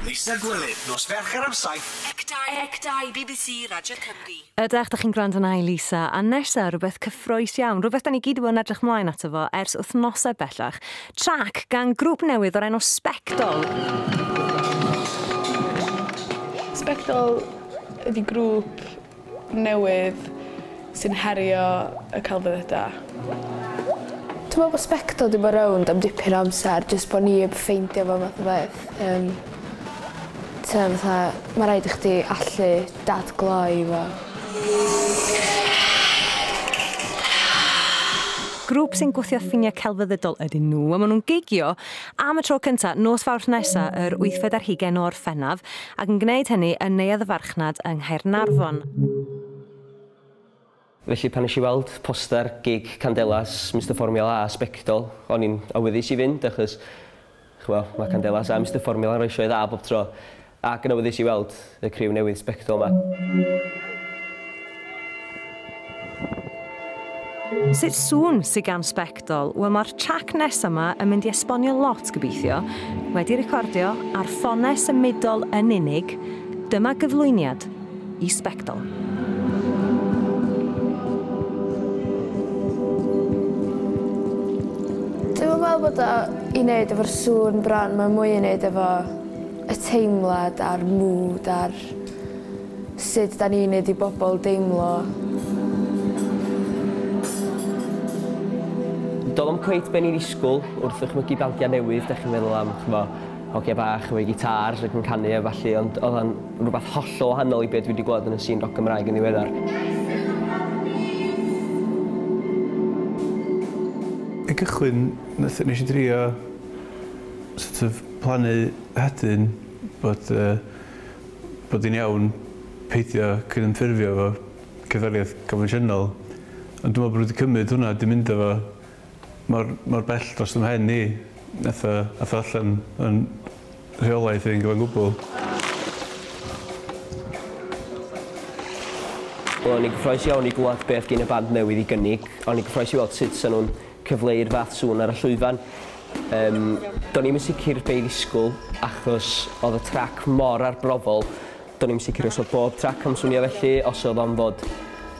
Lisa Gwilym, nos Fercher am saith. Ec Dau, Ec Dau, bbc Radio Cymru. Ydach, da chi'n gwrando na i Lisa. A nesa, rhywbeth cyffroes iawn, rhywbeth da ni gyd yn edrych mlaen ato fo ers wythnosau bellach. Trac gan grŵp newydd o'r enw Spectol. Spectol ydy grŵp newydd sy'n herio y celfyddydau. Dwi me'wl bo' sbectol 'di bo' rownd am dipyn o amser jyst bo' ni 'eb ffeindio fo fath o beth yym t'o' fatha ma' raid i chdi allu dadgloi fo. Grŵp sy'n gwthio ffinia' celfyddydol ydyn nhw a ma' nw'n gigio am y tro cynta nos Fawrth nesa yr wythfed ar hugen o Orffennaf ac yn gwneud hynny yn Neuadd y Farchnad yng Nghaernarfon. Felly pan nes i weld poster gig Candelas, Mister Formula a Sbectol, o'n i'n awyddus i fynd achos ch'mo', ma' Candelas a Mister Formula yn rhoi sioe dda bob tro, ac yn awyddus i weld y criw newydd Sbectol 'ma. Sut sŵn sy gan Sbectol? Wel mae'r trac nesa 'ma yn mynd i esbonio lot gobeithio. Wedi recordio ar ffonau symudol yn unig, dyma gyflwyniad i Sbectol. Dwi'm yn meddwl bod o i neud efo'r sŵn bron mae mwy i neud efo y teimlad a'r mood a'r Sut 'da ni'n neud i bobl deimlo? Doedd o'm cweit be o'n i'n ddisgwl wrth ddychmygu bandiau newydd, dach chi'n meddwl am, ch'mo', hogiau bach efo eu gitars ac yn canu a ballu ond oedd o'n rwbath hollol wahanol i be' dwi 'di gweld yn y sîn roc Gymraeg yn ddiweddar. I gychwyn nath- nesh i drio sort of plannu hedyn bod yy bod yn iawn peidio cydymffurfio efo cerddoriaeth confensiynol, ond dwi'n meddwl bod nhw 'di cymryd hwnna, 'di mynd â fo mor mor bell dros fy mhen i, wnaeth o wnaeth o allan o'n rheolaeth i yn gyfan gwbl. Wel o'n i'n gyffrous iawn i glywed beth gin y band newydd i gynnig, a o'n i'n gyffrous i weld sut 'sa nhw'n cyfleu i'r fath sŵn ar y llwyfan. Yym, do'n i'm yn sicr be' i ddisgwl achos oedd y trac mor arbrofol, do'n i'm sicr os oedd bob trac am swnio felly, os oedd o'n fod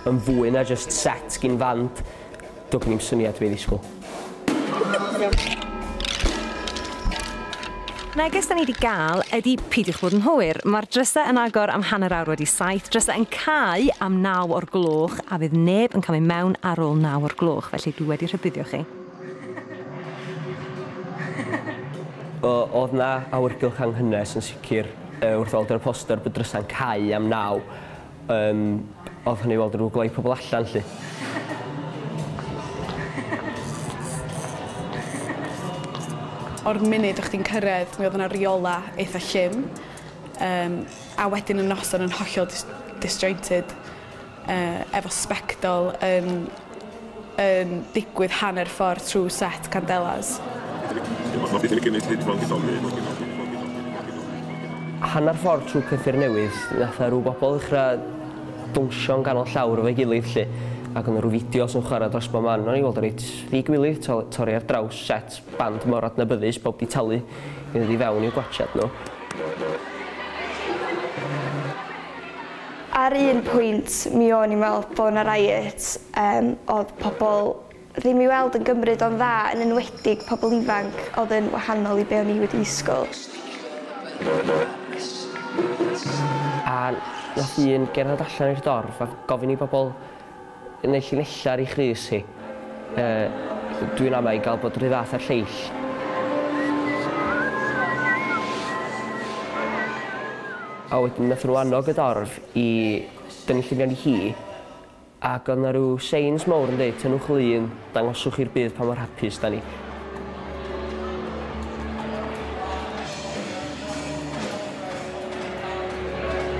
yn fwy na jyst set gin fand, do' gen i'm syniad be' i ddisgwl. Neges da ni 'di ga'l ydi peidiwch bod yn hwyr, ma'r dryse yn agor am hanner awr wedi saith, dryse yn cau am naw o'r gloch a fydd neb yn camu mewn ar ôl naw o'r gloch, felly dwi wedi rhybuddio chi. O, o'dd 'na awyrgylch anghynnes yn sicr yy wrth weld ar y poster bod drysa'n cau am naw. Yym odd hynny i weld rw gloi pobol allan 'lly. O'r munud o' chdi'n cyrredd mi odd yna riola eitha llym yym a wedyn y noson yn hollol dis- disjointed yy efo sbectol yn yn digwydd hanner ffordd trwy set Candelas. Hanner ffordd trwy Cyffur Newydd, nath 'na rw bobl ddechra downsio yn ganol llawr efo'i gilydd 'lly, ac o' 'na rw fideos yn chwara dros bob man, o'n i'n weld o reit ddi-gwilydd, t'o' torri ar draws set band mor adnabyddus, pawb 'di talu i ddod i fewn i'w gwatsiad nhw. Ar un pwynt mi o'n i'n weld bo' 'na riots yym o'dd pobol ddim i weld yn gymryd o'n dda yn enwedig pobol ifanc o'dd yn wahanol i be' o'n i wedi ddisgwl. A nath un gerdded allan i'r dorf a gofyn i bobol Yn ei llinella ar ei chrys hi, yy, dwi'n ama i gael bod rhy fath â'r lleill. A wedyn nath nhw annog y dorf i dynnu lluniau'n i hi, ac oedd na rhyw seins mowr yn deud, tynnwch lun, dangoswch i'r byd pa mor hapus da ni.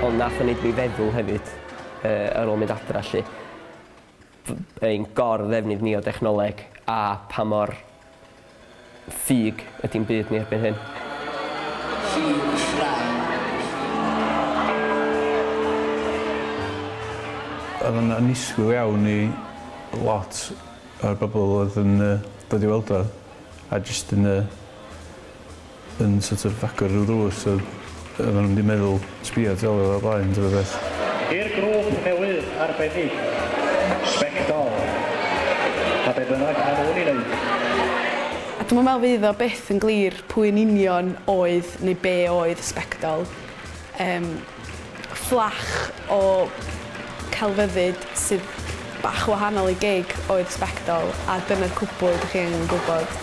Ond nath o wneud mi feddwl hefyd. ar ôl mynd adra 'lly, ein gor-ddefnydd ni o dechnoleg a pa mor ffug ydi'n byd ni erbyn hyn. Oedd o'n annisgwyl iawn i lot o'r bobl oedd yn dod i weld o a jyst yn yn sort of agor rhyw ddrws a oedden nhw'm 'di meddwl sbïo tu ôl iddo o'r blaen ta rywbeth. I'r grŵp newydd arbennig, Sbectol, a be bynnag ma' nhw'n 'i wneud. A dwi'm yn meddwl fydd o byth yn glir pwy yn union oedd neu be oedd Sbectol. Yym. Fflach o celfyddyd sydd bach yn wahanol i gig oedd sbectol a dyna'r cwbl dych chi angen gwybod.